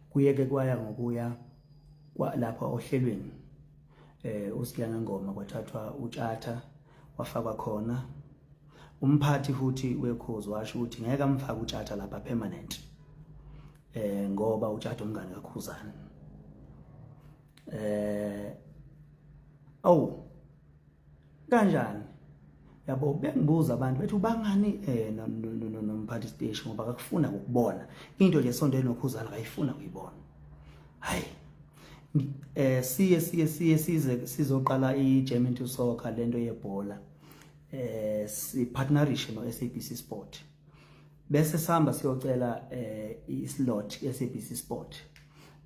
kuyeke kwaya ngokuya lapha ohlelweni eh uSiyanga Ngoma kwathathwa utshatha wafakwa khona umphathi futhi wekhozi washo ukuthi ngeke amfake utshatha lapha permanent eh ngoba utshatha umngane kakhuzana eh awu kanjani yabo bengibuza abantu bethi ubangani eh nomphathi station ngoba akakufuna ukubona into nje sonto enokhuzana akayifuna kuyibona hayi eh siye siye siye size sizoqala iGerman to soccer lento yebhola eh si partnership no SABC Sport bese sihamba siyocela eh islot eSABC Sport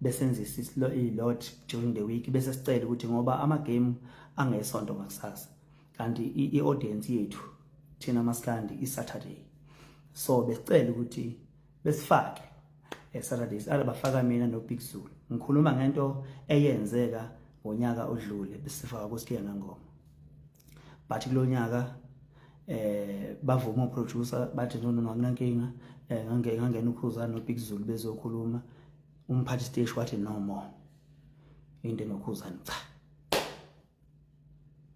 besenzisa islo ilot during the week bese sicela ukuthi ngoba ama game angesonto ngakusasa kanti i audience yethu thina maskandi i Saturday so besicela ukuthi besifake e Saturdays alabafaka mina no Big Zulu ngikhuluma ngento eyenzeka ngonyaka odlule besifaka kuSiyana Ngoma but kulonyaka eh bavuma uproducer bathi no no anginankinga eh ngange ngangena ukhuza no Big Zulu bezokhuluma umphathi stage wathi no more into nokhuza cha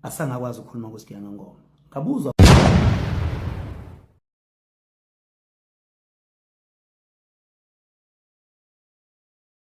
asangakwazi ukukhuluma kusigiya ngengoma ngabuzwa